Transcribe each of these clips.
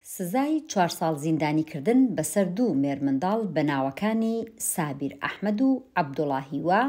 سزای چوار ساڵ زیندانیکردن بەسەر دوو مێرمنداڵ بە ناوەکانی سابیر ئەحمەد و عەبدوڵا هیوا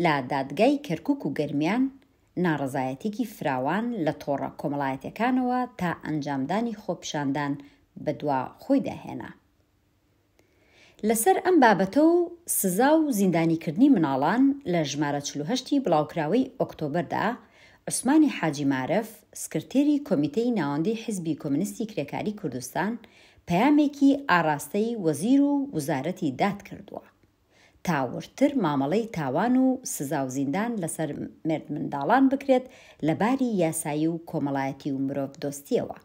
لە دادگای کەرکوک و گەرمیان، ناڕەزایەتیەکی فراوان لە تۆڕە کۆمەڵایەتیەکانەوە تا ئەنجامدانی خۆپیشاندان بەدوا خۆیدا هێنا. لەسەر ئەم بابەتە و سزا و زیندانیکردنی مناڵان لە ژمارە چل و هەشت ی بڵاوکراوەی ئۆکتۆبەردا، عوسمانی حاجی مارف، سکرتێری کۆمیتەی ناوەندی حیزبی کۆمنیستی کرێکاری کوردستان پەیامێکی ئاراستەی وەزیر و وزارەتی داد کردووە تا وردتر مامەڵەی تاوان و سزا و زیندان لەسەر مێردمنداڵان بکرێت لە باری یاسایی و کۆمەڵایەتی و مرۆڤدۆستییەوە.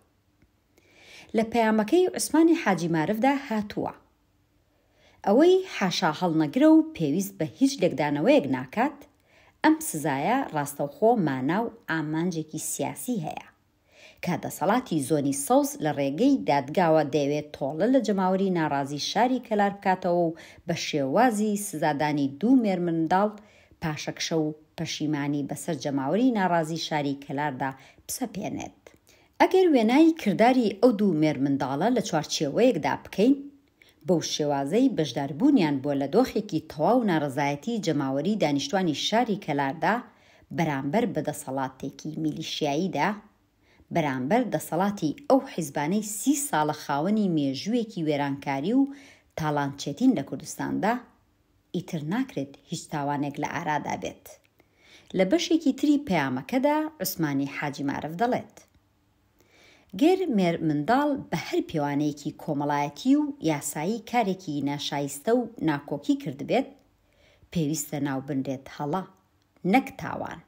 لە پەیامەکەی عوسمانی حاجی مارفدا هاتووە، ئەوەی حاشا هەڵنەگرە و پێویست بە هیچ لێکدانەوەیەک ناکات، ئەم سزایە ڕاستەوخۆ مانا و ئامانجێکی سیاسی هەیە، کە دەسەڵاتی زۆنی سەوز لە ڕێگەی دادگاوە دەیەوێت تۆڵە لە جەماوەری ناڕازی شاری کەلار بکاتەوە و بە شێوازی سزادانی دوو مێرمنداڵ پاشەکشە و پەشیمانی بەسەر جەماوەری ناڕازی شاری کەلاردا بسەپێنێت. ئەگەر وێنای کرداری ئەو دوو مێرمنداڵە لە چوارچێوەیەکدا بکەین، بەو شێوازەی بەشداربوونیان بووە لە دۆخێکی تەواو نارەزایەتی جەماوەری دانیشتوانی شاری کەلاردا بەرامبەر بە دەسەڵاتێکی میلیشیاییدا، بەرامبەر دەسەڵاتی ئەو حیزبانەی سی ساڵە خاوەنی مێژووێکی وێرانکاری و تاڵانچێتین لە کوردستاندا، ئیتر ناکرێت هیچ تاوانێک لە ئارادا بێت. لە بەشێکی تری پەیامەکەدا عوسمانی حاجی مارف دەڵێت، گەر مێرمنداڵ بە هەر پێوانەیەکی کۆمەڵایەتی و یاسایی کارێکی ناشایستە و ناکۆکی کردبێت، پێویستە ناوبنرێت هەڵە، نەک تاوان.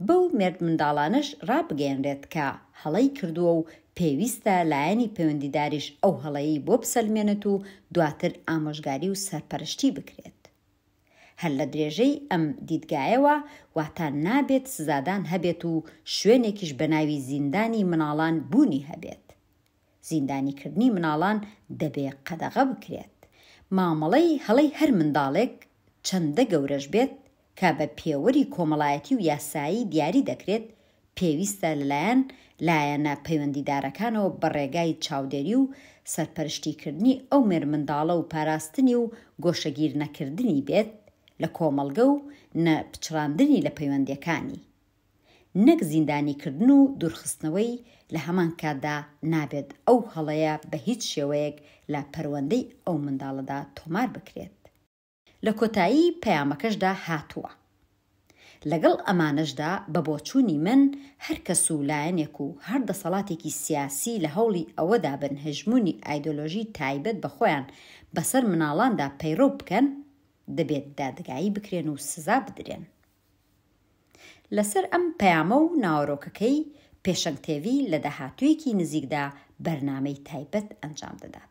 بەو مێردمنداڵانەش ڕابگەیەنرێت کە هەڵەی کردووە و پێویستە لایەنی پەیوەندیداریش ئەو هەڵەیەی بۆ بسەلمێنێت و دواتر ئامۆژگاری و سەرپەرشتی بکرێت. هەر لە درێژەی ئەم دیدگایەوە واتا نابێت سزادان هەبێت و شوێنێکیش بەناوی زیندانی منداڵان بوونی هەبێت. زیندانیکردنی مناڵان دەبێ قەدەغە بکرێت. مامەڵەی هەڵەی هەر منداڵێک چەندە گەورەش بێت کە بە پێوەری کۆمەڵایەتی و یاسایی دیاری دەکرێت، پێویستە لەلایەن لایەنە پەیوەندیدارەکانەوە بە ڕێگای چاودێری و سەرپەرشتیکردنی ئەو مێرمنداڵە و پاراستنی و گۆشەگیرنەکردنی بێت لە کۆمەڵگە و نە پچڕاندنی لە پەیوەندیەکانی. نەک زیندانیکردن و دوورخستنەوەی، لە هەمان کاتدا نابێت ئەو هەڵەیە بە هیچ شێوەیەک لە پەروەندەی ئەو منداڵەدا تۆمار بکرێت. لە کۆتایی پەیامەکەشدا هاتووە، لەگەڵ ئەمانەشدا بە بۆچوونی من هەر کەس و لایەنێک و هەر دەسەڵاتێکی سیاسی لە هەوڵی ئەوەدا بن هەژموونی ئایدۆلۆژی تایبەت بە خۆیان بەسەر منداڵاندا پەیڕەو بکەن، دەبێت دادگایی بکرێن و سزا بدرێن. لەسەر ئەم پەیامە و ناوەرۆکەکەی پێشەنگ تێڤی لە داهاتوویەکی نزیکدا بەرنامەی تایبەت ئەنجام دەدات.